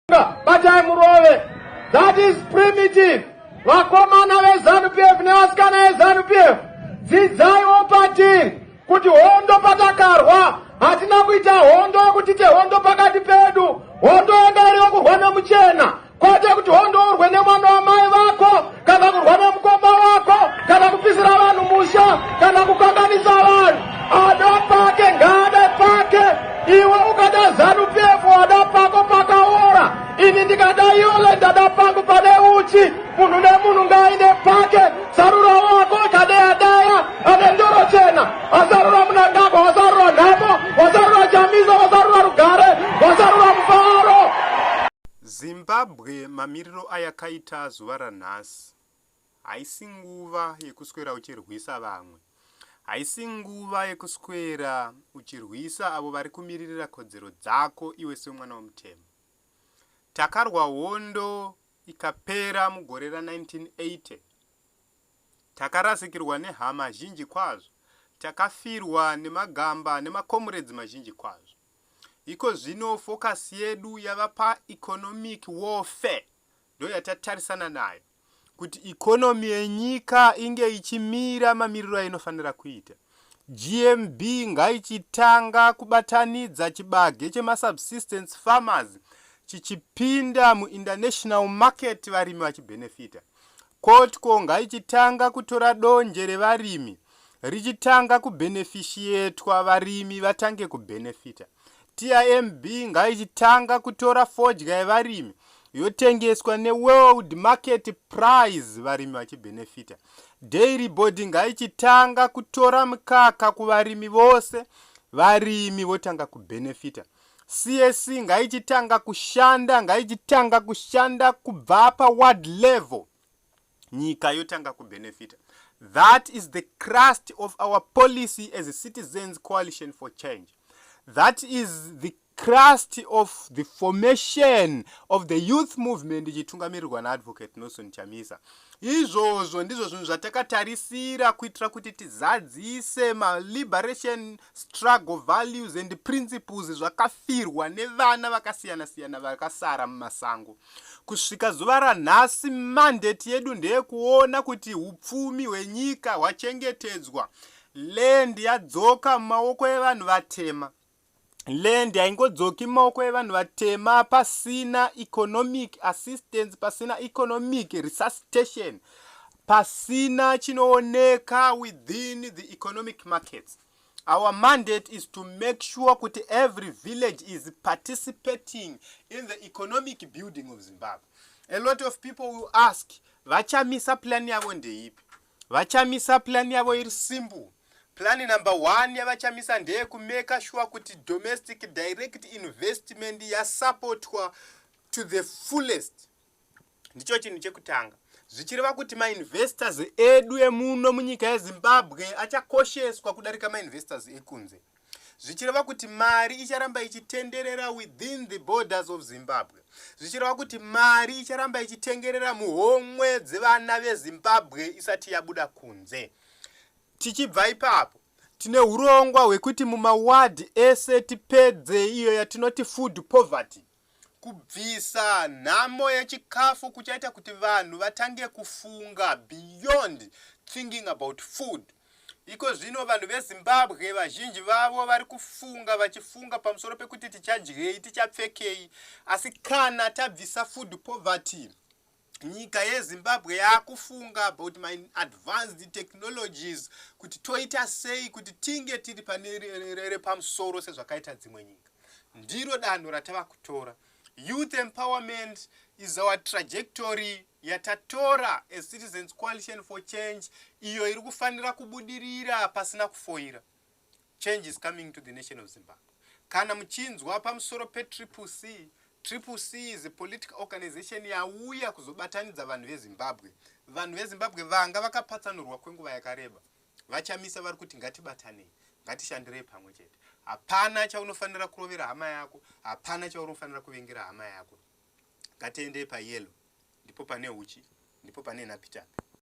Batai murove. That is primitive. Vakomana veZanu PF nevasikana veZanu PF. Dzidzaiwo patiri kuti hondo patakarwa hatina kuita hondo yekuti tehondo pakati pedu. Hondo yanga iri yokurwa nemuchena. Kwete kuti hondo urwe nemwana wamai vako. kana kurwa nemukoma wako kana kupisira vanhu musha kana kukanganisa vanhu ada pake ngaade pake iwe ukada zanu pf wada pako pakaora ini ndikada yole ndada pangu pane uchi munhu nemunhu ngaaine pake sarura wako ikadeya daya ane ndoro chena asarura munangagwa wasarura nhamo wasarura chamisa wasarura rugare wasarura mufaro Zimbabwe mamiriro ayakaita zuva ranhasi haisi nguva yekuswera uchirwisa vamwe. Haisi nguva yekuswera uchirwisa avo vari kumiririra kodzero dzako iwe semwana wemutemo. Takarwa hondo ikapera mugore ra 1980. Takarasikirwa nehama zhinji kwazvo. Takafirwa nemagamba nemakomuredzi mazhinji kwazvo. Ikozvino focus yedu yava pa economic warfare ndoyatatarisana nayo kuti economy yenyika inge ichimira mamiriro ainofanira kuita. GMB ngaichitanga kubatanidza chibage chema subsistence farmers chichipinda mu international market varimi vachibenefita. Kotko ngaichitanga kutora donje revarimi richitanga kubhenefishietwa varimi vatange kubhenefita. TIMB ngaichitanga kutora fodya yevarimi yotengeswa neworld market price varimi vachibhenefita. Dairy board ngaichitanga kutora mukaka kuvarimi vose varimi votanga kubhenefita. CAC ngaichitanga kushanda, ngaichitanga kushanda kubva pa ward level. Nyika yotanga ku benefita. That is the crust of our policy as a Citizens Coalition for Change. That is the crust of the formation of the youth movement ichitungamirirwa na Advocate Nelson Chamisa. Izvozvo ndizvo zvinhu zvatakatarisira kuitira kuti tizadzise maliberation struggle values and principles zvakafirwa nevana vakasiyana-siyana vakasara mumasango. Kusvika zuva ranhasi mandate yedu ndeyekuona kuti upfumi hwenyika hwachengetedzwa, land yadzoka mumaoko evanhu vatema. land haingodzoki mumaoko evanhu vatema pasina economic assistance pasina economic resuscitation pasina chinooneka within the economic markets our mandate is to make sure kuti every village is participating in the economic building of zimbabwe a lot of people will ask vachamisa plan yavo ndeipi VaChamisa plan yavo iri simple. Plan number one yavaChamisa ndeye kumeka shuwa kuti domestic direct investment yasapotwa to the fullest. Ndicho chinhu chekutanga. Zvichireva kuti mainvestors edu emuno munyika yeZimbabwe achakosheswa kudarika mainvestors ekunze. zvichireva kuti mari icharamba ichitenderera within the borders of zimbabwe zvichireva kuti mari icharamba ichitengerera muhomwe dzevana vezimbabwe isati yabuda kunze tichibva ipapo tine urongwa hwekuti mumawadhi ese tipedze iyo yatinoti food poverty Kubvisa nhamo yechikafu kuchaita kuti vanhu vatange kufunga beyond thinking about food. Iko zvino vanhu veZimbabwe vazhinji vavo vari kufunga vachifunga pamusoro pekuti tichadyei, tichapfekei asi kana tabvisa food poverty nyika yezimbabwe yakufunga about my advanced technologies kuti toita sei kuti tinge tiri pane repamusoro sezvakaita dzimwe nyika ndiro danho ratava kutora youth empowerment is our trajectory yatatora as citizens coalition for change iyo iri kufanira kubudirira pasina kufoira Change is coming to the nation of Zimbabwe. Kana muchinzwa pamusoro pe Triple C, Triple C is a political organization yauya kuzobatanidza vanhu veZimbabwe. Vanhu veZimbabwe vanga vakapatsanurwa kwenguva yakareba. VaChamisa vari kuti ngatibatanei, ngatishandirei pamwe chete. Hapana chaunofanira kurovera hama yako, hapana chaunofanira kuvengera hama yako. Ngatiendei payellow, ndipo pane huchi, ndipo pane nhapitapi.